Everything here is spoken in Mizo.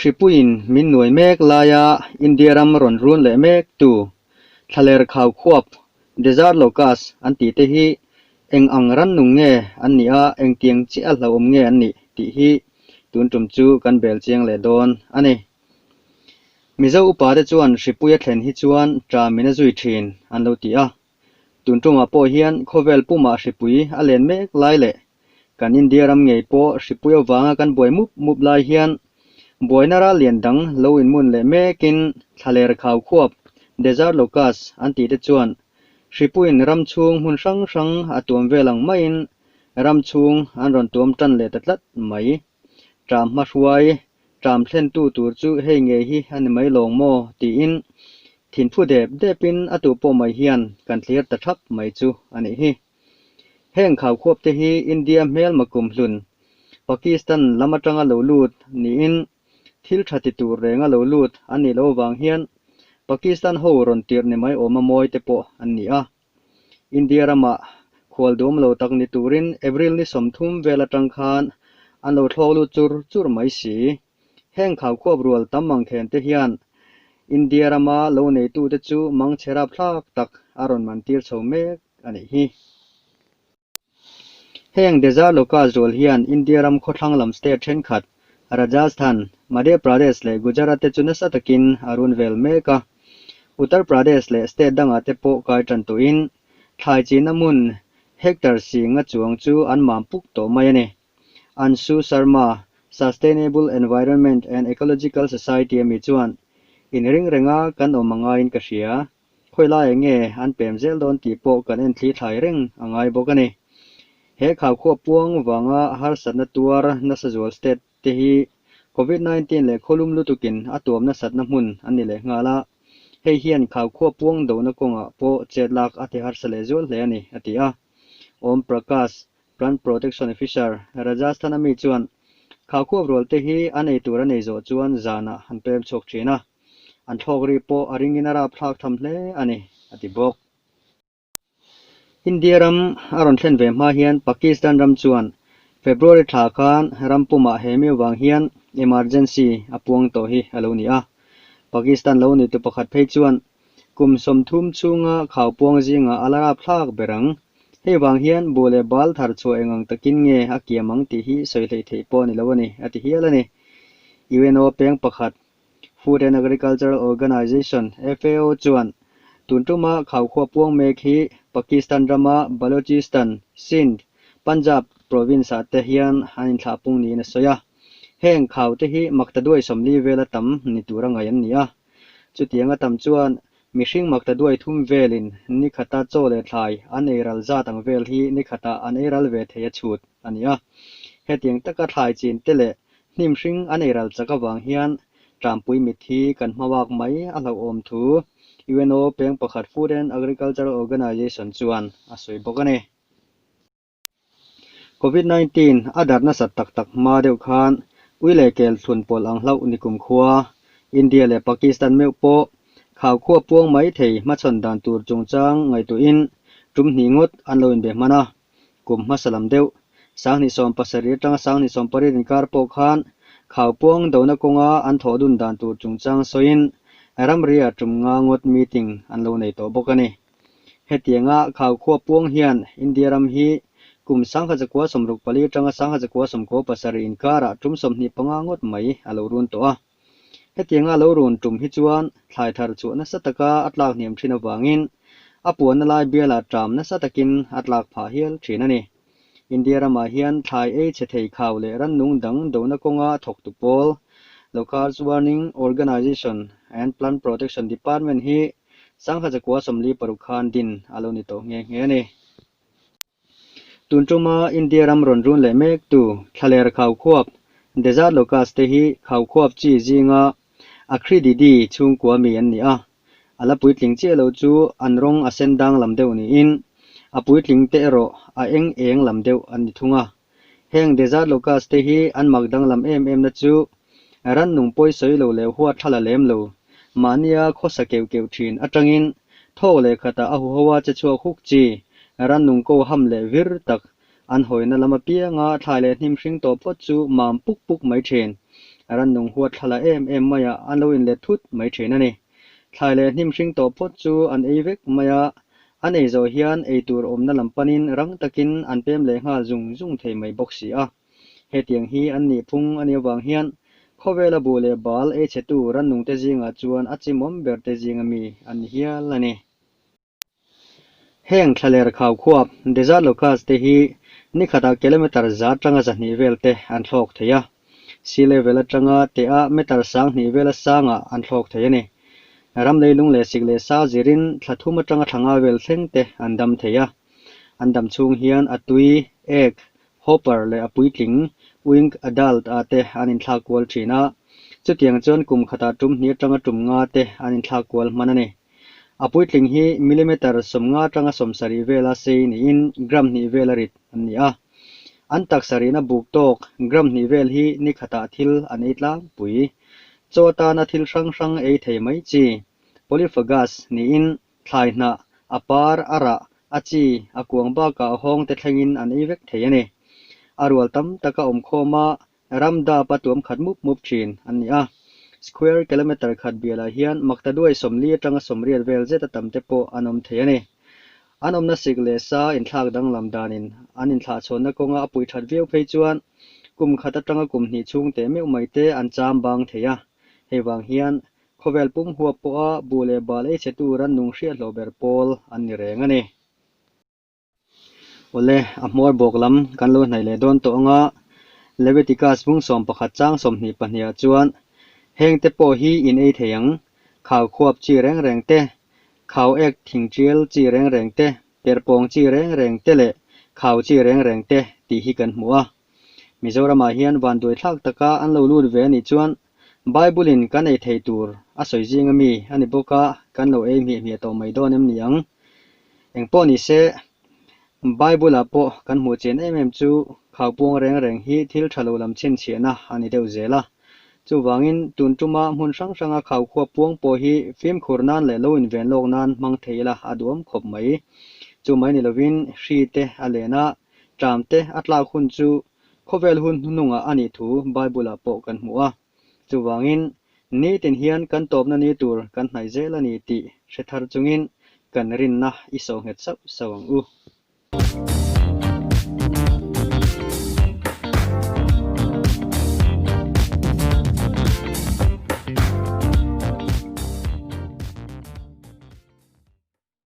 Hripuiin min nuai mek laia India ram rawn run leh mek tu thlaler khau khuap, desert locust, an tih te hi eng ang rannung nge an nih a, engtiang chiah hlauhawm nge an nih tih hi tun tum chu kan bel chiang leh dawn a ni. Mizo upa te chuan Hripuia thlen hi chuan ṭan min a zui ṭhin an lo ti a. Tun ṭawngah pawh hian khawvel pumah Hripui a len mek lai leh kan India ram ngei pawh Hripui avanga kan buai mup mup lai hian buaina ral lian dang lo inmun leh mekin thlaler khau khuap, desert locust, an tih te chuan Hripui'n ram chhung hmun hrang hrang a tuam vel ang maiin ram chhung an rawn tuam ṭan leh ta tlat mai. Trump hmahruai Trump thlentu tur chu hei ngei hi a ni mai lawng maw tiin thin phu dep depin a tu pawh mai hian kan tlir ta thap mai chu a nih hi. Heng khaukhawpte hi India hmelma kum hlun Pakistan lam atanga lo lut niin thil tha ti tur renga lo lut an nih loh vang hian Pakistan ho rawn tirh ni mai awma mawite pawh an ni a. India rama khual dum lo tak ni turin April ni sawmthum vel atang khan an lo thlawk lut chur chur mai si. Heng khau khuap rual tam ang then te hian India rama lo neitute chu mang che rap thlak tak a rawn man tir chho mek a nih hi. Heng desert local zual hian India ram khawthlang lam state thenkhat, Rajasthan, Madhya Pradesh leh Gujarat te chu nasa takin a run vel mek a. Uttar Pradesh leh state dangah te pawh kai tan tuhin thlai chinna hmun hectare singa chuang chu an mam puk tawh mai a ni. Anshu Sharma, Sustainable Environment and Ecological Society ami chuan, In reng renga kan awm a ngaiin ka hria, Khawi lai eng nge an pem zel dawn tih pawh kan en thli thlai reng a ngai bawk a ni. He khaukhua puang vanga harsatna tuar nasa zual state te hi Covid nineteen leh khawlum lutukin a tuam nasatna hmun an ni leh nghal a, hei hian khaukhua puang dohna kawngah pawh chet lak a ti harsa leh zual hle a ni, a ti a. Om Prakash, Plant Protection Officer, Rajasthan ami chuan, Khaukhua rual te hi a nei tur a nei zawh chuan zanah han pem chhuak thin a. an thlawk ri pawh a ringin a rapthlak tham hle a ni, a ti bawk. India ram a rawn thlen ve hma hian Pakistan ram chuan February thla khan ram pumah he miu vang hian emergency a puang tawh hi a lo ni a. Pakistan lo ni tu pakhat phei chuan kum sawmthum chhunga khau puang zingah a la rapthlak ber ang. Hei vang hian bu leh bal thar chhuah eng ang takin nge a kiam ang tih hi sawi hleih theih pawh a ni lo a ni, a ti hial a ni. UNO peng pakhat Food and Agricultural Organisation, FAO, chuan tun tuma khau khuap puang mek hi Pakistan rama Balochistan, Sindh, Punjab province-ah te hian an inthlah pung niin a sawi a, heng khau te hi Maktaduai sawmli vela tam ni tura ngaih an ni a. Chutianga tam chuan mihring Maktaduai thum velin nikhata chaw leh thlai an ei ral zat ang vel hi nikhatah an ei ral ve thei a chhut a ni a. Hetiang taka thlai chin te leh Hnim hring a nei ral chak avang hian tlanpui mit hi kan hmabak mai a hlauhawm thu UNO peng pakhat Food and Agricultural Organization chuan a sawi bawk a ni. Covid nineteen a dar nasat tak tak hma deuh khan ui leh kel thlun pawlh ang hlauh nikum khua India leh Pakistan meuh pawh khau khua puang mai thei hmachhawn dan tur chungchang ngaihtuahin tumhnih ngawt an lo inbe hman a. kum hmasa lam deuh Sangni sawm pasarir tanga Sangni sawm parir inkar pawh khan khau puang dona kawnga an thawh dun dan tur chungchang sawiin ramria tum nga ngawt meeting an lo nei tawh bawk a ni. Hetianga khau khua puang hian India ram hi kum Sangha Chakua sawm ruk palir tanga Sangha Chakua sawm kaw pasarih inkarah tum sawmhnih panga ngawt mai a lo run tawh a. Hetianga lo rawn tum hi chuan thlai thar chhuah nasa taka a tlak hniam thin avangin a puanna lai biala ṭam nasa takin a tlak phah hial thin a ni. India ramah hian thlai ei chhe thei khau leh rannung dang dona kawnga thawktu pawl, Locals Warning Organization and Plant Protection Department hi sangha chakua sawmli paruk khan din a lo ni tawh nghe nghe a ni. Tun tuma India ram rawn run leh mek tu thlaler khau khuap, desert locust, te hi khau khuap chi zinga Acridiidae chhungkua mi an ni a, a la puitling chiah lo chu an rawng a sen dang lam deuh niin a puitling te erawh a eng eng lam deuh an ni thung a. Heng desert locust te hi an mak danglam em em na chu rannung pawi sawi lo leh huat thla la lem lo, mahnia khawsa keuh keuh thin atangin thaw leh khatah a huho a che chhuak huk chi, rannung ko ham leh vir tak an hawina lam apianga thlai leh hnim hring tawh phawt chu mam puk puk mai thin, rannung huat thla la em em maiah an lo inlet thut mai thin a ni. Thlai leh hnim hring tawh phawt chu an ei vek mai a, an ei zawh hian ei tur awmna lam panin rang takin an pem leh nghal zung zung thei mai bawk si a. Hetiang hi an nih phung a nih avang hian khawvela bu leh bal ei chetu rannungte zingah chuan a chimawm berte zinga mi an ni hial a ni. Heng thla ler khau khua Desert Locust te hi ni khatah kilometre za tanga zahnih vel te an thlawk thei a, sea level atanga te a metre sang hnih vel a sangah an thlawk thei a ni. Ram leilung leh sik leh sa zirin thla thum atanga thla nga vel thleng te an dam thei a. An dam chhung hian a tui, egg, hopper leh a puitling, wing, adult, ah te an inthlak kual thin a, chutiang chuan kum khatah tum hnih atanga tum nga te an inthlak kual hman a ni. A puitling hi millimeter sawmnga tanga sawm sarih vela sei niin gram hnih vela rit an ni a. An taksa rihna buk tawk gram hnih vel hi nikhatah thil an ei tlangpui. Chaw atana thil hrang hrang ei thei mai chi, polyphagous, niin thlai hnah, a par, a rah, a chi, a kuang bakah hawngte thlengin an ei vek thei a ni. A rual tam taka awm khawma Ram dap a tuam khat mup mup thin an ni a. Square kilometre khat bialah hian Maktaduai sawmli atanga sawmriat vel zeta tam te pawh an awm thei a ni. An awmna sik leh sa inthlak danglam danin an inthlahchhawnna kawnga a puih that viau phei chuan kum khat atanga kum hnih chhung te meuh mai te an cham bang thei a. Hei vang hian khawvel pum huap pawha bu leh bal ei chetu rannung hriathlawh ber pawl an ni reng a ni. Awle, a hmawr bawk lam kan lo hnaih leh dawn tawh ang a, Levitikas hmung sawm pakhat chang sawmhnih pahniha chuan, Hengte pawh hi in ei thei ang, khau khuap chi reng reng te, khau ek thing tial chi reng reng te, perh pawng chi reng reng te leh khau chi reng reng te tih hi kan hmu a. Mizoramah hian vanduai thlak taka an lo lut ve a nih chuan Bible-in kan ei thei tur a sawi zing a mi a ni bawk a, kan lo ei hmiah hmiah tawh mai dawn em ni ang? Engpawh ni se, Bible-ah pawh kan hmuh chin em em chu khaupuang reng reng hi thil tha lo lam chhinchhiahna a ni deuh zel a. Chuvangin, tun tuma hmun hrang hranga khaukhuap puang pawh hi fimkhur nan leh lo inven lawk nan hmang thei ila a duhawm khawp mai. Chu mai ni lovin, hri te a len a, ṭam te a tlak hun chu Khawvel hun hnunungah a nih thu Bible-ah pawh kan hmu a. Chuvangin, Nitin hian kan tawpna ni tur kan hnaih zel a ni tih hre thar chungin kan rinna i so nghet sauh sauh ang u.